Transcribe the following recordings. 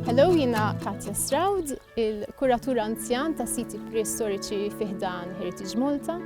Hello, jina Katja Stroud, il-kuratura anzjan ta' siti preistoriċi fiħdan Heritage Malta.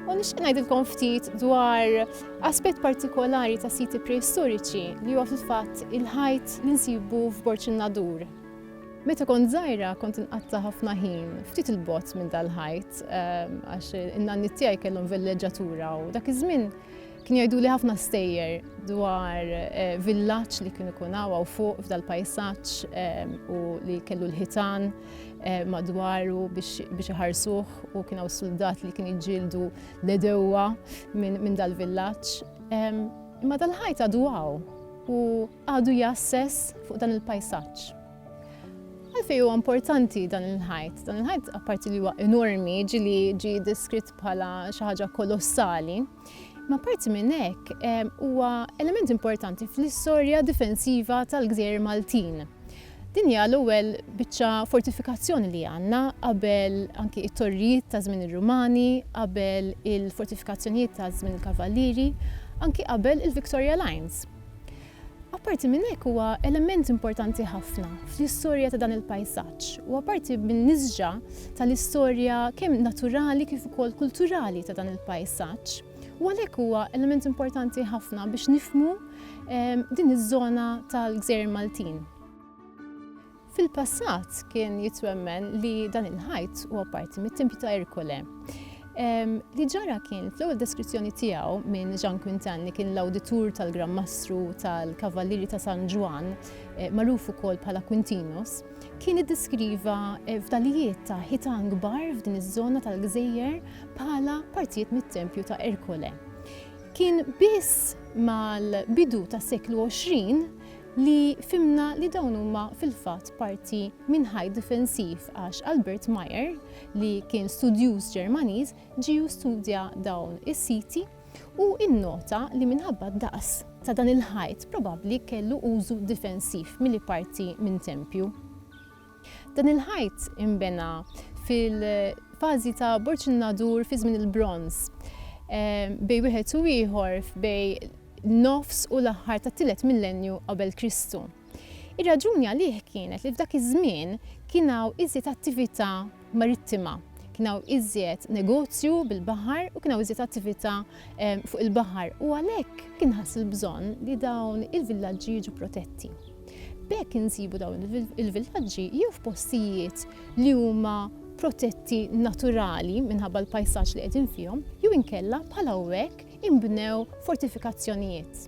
U nixtieq ngħidilkom ftit dwar aspett partikolari ta' siti preistoriċi li huwa fil-fatt il-ħajt li nsibu f'Borċin Nadur. Meta kont żgħira kont inqatta' ħafna ħin ftit il-bogħod minn dal-ħajt ehm, għax in-nanni tiegħi kellhom villeġġatura u dak iż-żmien kien jgħidu li ħafna stejjer dwar eh, villaġġ li kien ikun hawn fuq f'dal-pajsaġġ ehm, u li kellu l-ħitan eh, madwaru biex iħarsuh u kien hawn soldat li kien jġildu l-edewwa minn dal-villaġġ. Ehm, imma dal-ħajt għadu għaw u għadu jasses fuq dan il-pajsaġġ. Għalfejn huwa importanti dan il-ħajt? Dan il-ħajt apparti li huwa enormi, ġili ġi deskritt bħala xi ħaġa kolossali, ma parti minn hekk huwa element importanti fl-istorja difensiva tal-gżejjer Maltin. Din hija l-ewwel biċċa fortifikazzjoni li għandna qabel anki it-torrijiet ta' żmien ir-Rumani, qabel il-fortifikazzjonijiet ta' żmien il-Kavallieri, anki qabel il-Victoria Lines. Apparti minn hekk huwa element importanti ħafna fl-istorja ta' dan il-pajsaġġ u apparti min-nisġa tal-istorja kemm naturali kif ukoll kulturali ta' dan il-pajsaġġ u għalhekk huwa element importanti ħafna biex nifhmu din iż-żona tal-Gżejjer Maltin. Fil-passat kien jitwemmen li dan il-ħajt huwa parti mit-Tempju ta' Erkole. Li ġara kien fl-ewwel deskrizzjoni tiegħu minn Jean Quintin li kien l-awditur tal-Gran Mastru tal-Kavallieri ta' San Ġwann, eh, magħruf ukoll bħala Quintinus, kien iddeskriva eh, fdalijiet ta' ħitan kbar f'din iż-żona tal-gżejjer bħala partijiet mit-Tempju ta' Erkole. Kien biss mal-bidu tas-seklu 20 li fhimna li dawn huma fil-fatt parti minn ħajt difensiv għax Albert Meyer, li kien studjuż Ġermaniż, ġie u studja dawn is-siti u nnota li minħabba d-daqs ta' dan il-ħajt probabbli kellu użu difensiv milli parti minn tempju. Dan il-ħajt inbena fil-fażi ta' Borġ in-Nadur fi żmien il-Bronż. Bejn wieħed u ieħor bejn nofs u l-aħħar tat-tielet millennju qabel Kristu. Ir-raġuni għalih kienet li f'dak iż-żmien kien hawn iżjed attività marittima. Kien hawn iżjed negozju bil-baħar u kien hawn iżjed attività fuq il-baħar u għalhekk kien ħass il-bżonn li dawn il-villaġġi jiġu protetti. B'hekk insibu dawn il-villaġġi jew f'postijiet li huma protetti naturali minħabba l-pajsaġġ li qegħdin fihom jew inkella bħala hekk inbnew fortifikazzjonijiet.